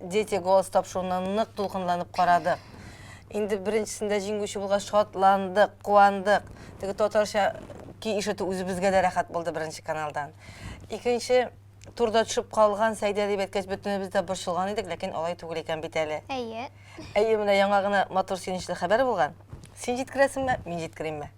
Дети голос тапшыруны нык дулкынланып карадык. Инде беренчесендә җиңүче булгач шатландык, куандык. Теге татарча ки ишетү үзебезгә дә рәхәт булды беренче каналдан. Икенче турда төшеп калган Сәйдә дип әйткәч бөтенебез дә борчылган идек, ләкин алай түгел икән бит әле. Әйе. Әйе, менә яңа гына матур сөенечле хәбәр булган. Син җиткерәсеңме, мин җиткеримме?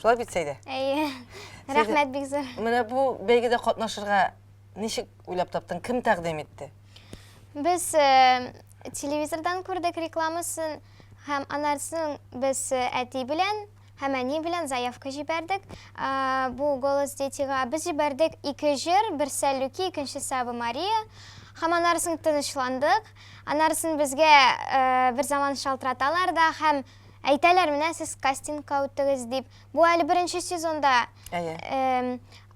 Шулай бит, Сәйдә? Әйе. Рәхмәт бик зур. Менә бу бәйгедә катнашырга ничек уйлап таптың? Кем тәкъдим итте? Без э, телевизордан күрдек рекламасын һәм анарсын без э, әти белән һәм әни белән заявка җибәрдек. Э, бу голос детига без җибәрдек ике җыр, берсе Люки, икенчесе Ава Мария. Һәм анарсын тынычландык. Анарсын безгә э, бер заман шалтыраталар да һәм Әйтәләр, менә сез кастингка үттегез дип. Бу әле беренче сезонда. Әйе.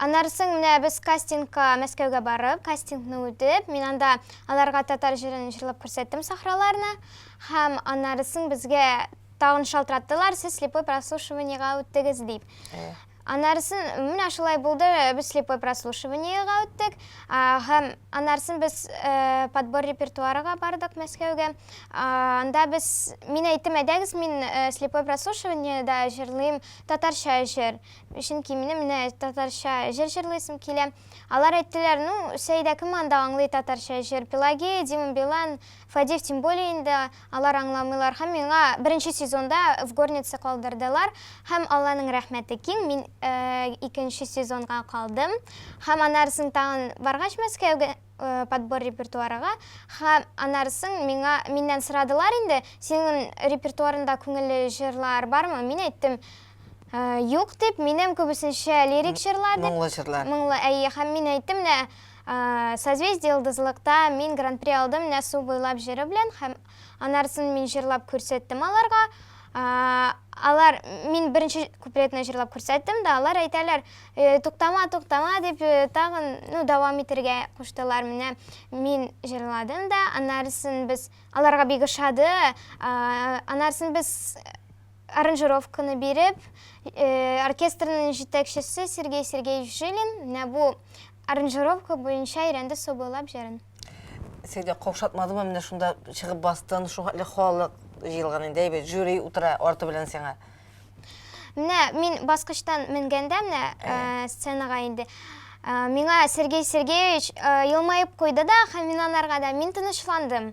Аннары соң менә без кастингка Мәскәүгә барып, кастингны үтеп, мин анда аларга татар җырын җырлап күрсәттем сахраларны. Һәм аннары соң безгә тагын шалтыраттылар, сез слепой прослушиваниега үттегез дип. Әйе. Аннарысын менә шулай булды, без слепой прослушиваниега үттек, һәм аннарысын без подбор репертуарыга бардык Мәскәүгә. Анда без, мин әйттем, әйдәгез, мин слепой прослушиваниеда җырлыйм татарча җыр, чөнки минем менә татарча җыр җырлыйсым килә. Алар әйттеләр, ну, Сәидә кем анда аңлый татарча җыр, Пелагея, Дима Билан, Фадеев тем более инде алар аңламыйлар һәм миңа беренче сезонда в горнице калдырдылар һәм Алланың рәхмәте киң мин икенче сезонга калдым һәм анарысын тагын баргач Мәскәүгә подбор репертуарыга һәм анарысын миңа миннән сорадылар инде синең репертуарында күңелле җырлар бармы мин әйттем юк дип минем күбесенчә лирик җырлар дип моңлы җырлар моңлы әйе һәм мин әйттем менә Созвездие йолдызлыкта мин гран-при алдым менә су буйлап җыры белән һәм анарысын мин җырлап күрсәттем аларга. Алар мин беренче куплетны җырлап күрсәттем дә, алар әйтәләр, «Э, туктама, туктама дип э, тагын ну, дәвам итергә куштылар. Менә мин җырладым да, анарысын без аларга бик ошады. Анарысын без аранжировканы биреп, э, оркестрның җитәкчесе Сергей Сергеевич Жилин, менә бу Аранжировка буенча өйрәнде Сабыйлап җырын. Син дә каушатмадыңмы, менә шунда чыгып бастың, шул хәтле халык җыелган инде, әйбәт, жюри утыра арты белән сиңа. Менә мин баскычтан менгәндә, менә сценага инде, миңа Сергей Сергеевич елмаеп куйды да һәм мин анарга да, мин тынычландым.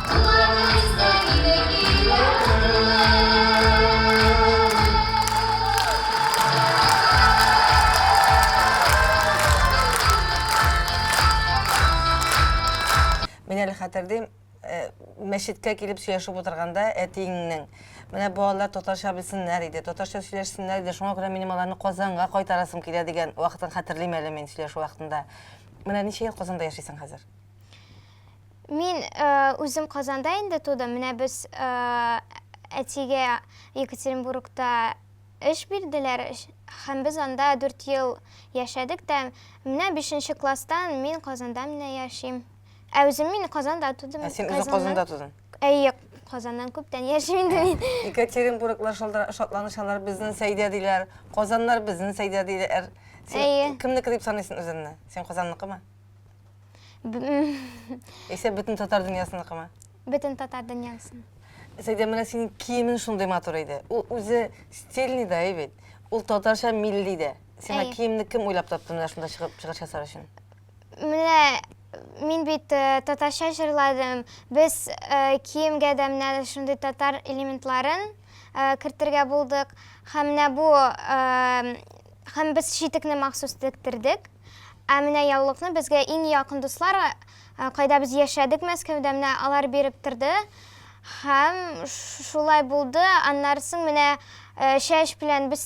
Мин әле хәтердим, э, мәчеткә килеп сөйләшеп утырганда әтиеңнең, менә бу алар татарча белсеннәр иде, татарча сөйләшсеннәр иде, шуңа күрә минем аларны Казанга кайтарасым килә дигән вакытын хәтерлим әле мин сөйләшү вакытында. Менә ничә ел Казанда яшисең хәзер? Мин үзем Казанда инде тудым, менә без әтигә Екатеринбургта эш бирделәр һәм без анда дүрт ел яшәдек тә, менә бишенче класстан мин Казанда менә яшим. Ә үзем мин Казанда тудым. Ә син үзең Казанда тудың? Әйе, Казаннан күптән яшим инде мин. Екатеринбурглар шатланышалар, безнең Сәйдә диләр, Казаннар безнең Сәйдә диләр. Әйе. Кемнеке дип саныйсың үзеңне? Син Казанныкымы? Исә бөтен татар дөньясыныкымы? Бөтен татар дөньясын. Сәйдә менә синең киемең шундый матур иде. Ул үзе стильный да бит. Ул татарча милли дә. Сиңа киемне кем уйлап тапты менә шунда чыгып чыгыш ясар өчен? Менә мин бит татарча җырладым. Без киемгә дә менә шундый татар элементларын кертергә булдык. Һәм менә бу һәм без читекне махсус тектердек. Ә менә яулыкны безгә иң якын дуслар, кайда без яшәдек Мәскәүдә, менә алар биреп торды. Һәм шулай булды. Аннары соң менә чәч белән без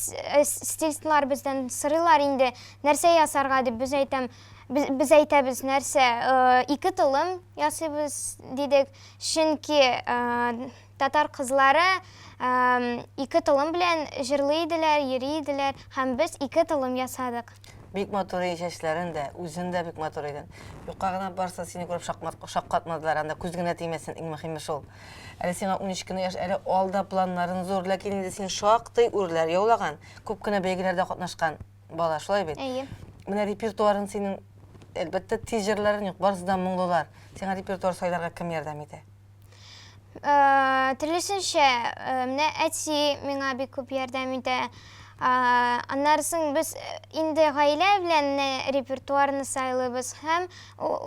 стилистлар бездән сорыйлар инде, нәрсә ясарга дип, без әйтәм, без әйтәбез, нәрсә, ике толым ясыйбыз дидек, чөнки Татар кызлары ике толым белән җырлый иделәр, йөри иделәр, һәм без ике толым ясадык. Бик матур иде чәчләрен дә, үзен дә бик матур иде. Юкка гына барса, сине күреп шаккатмадылар, анда күз генә тимәсен, иң мөһиме шул. Әле сиңа унөч кенә яшь, әле алда планнарын зур, ләкин инде син шактый үрләр яулаган, күп кенә бәйгеләрдә катнашкан бала, шулай бит? Әйе. Менә репертуарын синең, әлбәттә, тиз җырларын юк, барысы да моңлылар. Сиңа репертуар сайларга кем ярдәм итә? Э, Төрлесенчә, э, менә әти миңа бик күп ярдәм итә. Э, Аннарысын без инде гаилә белән репертуарны сайлыйбыз һәм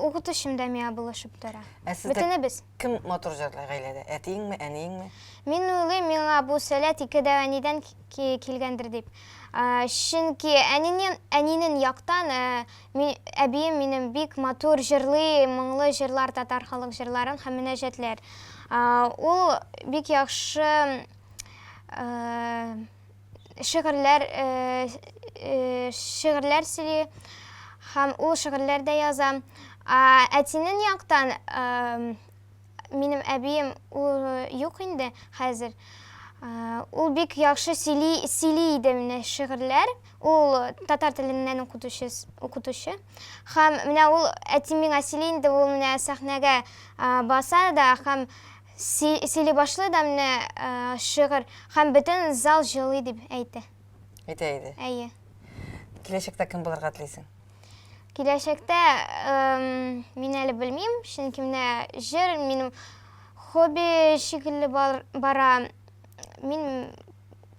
укытучым да миңа булышып тора. Ә Бөтенебез. Кем матур җырлый гаиләдә? Әтиеңме, әниеңме? Мин уйлыйм, миңа бу сәләт ике дә әнидән килгәндер дип. Чөнки әнинен, әнинен яктан Ми, әбием минем бик матур җырлый, моңлы җырлар, татар халык җырларын һәм мөнәҗәтләр. Ул бик яхшы шигырьләр шигырьләр сөйли һәм ул шигырьләр дә яза. Әтинен яктан Минем әбием ул юк инде хәзер. Ул бик яхшы сөйли, сөйли иде менә шигырьләр. Ул татар теленнән укытучы, укытучы. Һәм менә ул әти миңа сөйли инде, ул менә сәхнәгә баса да һәм сөйли башлый да менә шигырь һәм бөтен зал җылый дип әйтә. Әйтә иде. Әйе. Киләчәктә кем булырга телисең? Киләчәктә мин әле белмим, чөнки менә җыр минем хобби шикелле бара. Мин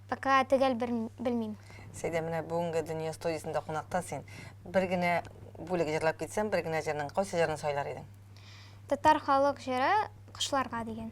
пока төгәл белмим. Сәйдә, менә бүгенге дөнья студиясендә кунакта син. Бер генә бүлек җырлап китсәң, бер генә җырның кайсы җырын сайлар идең? Татар халык җыры Кошларга дигән.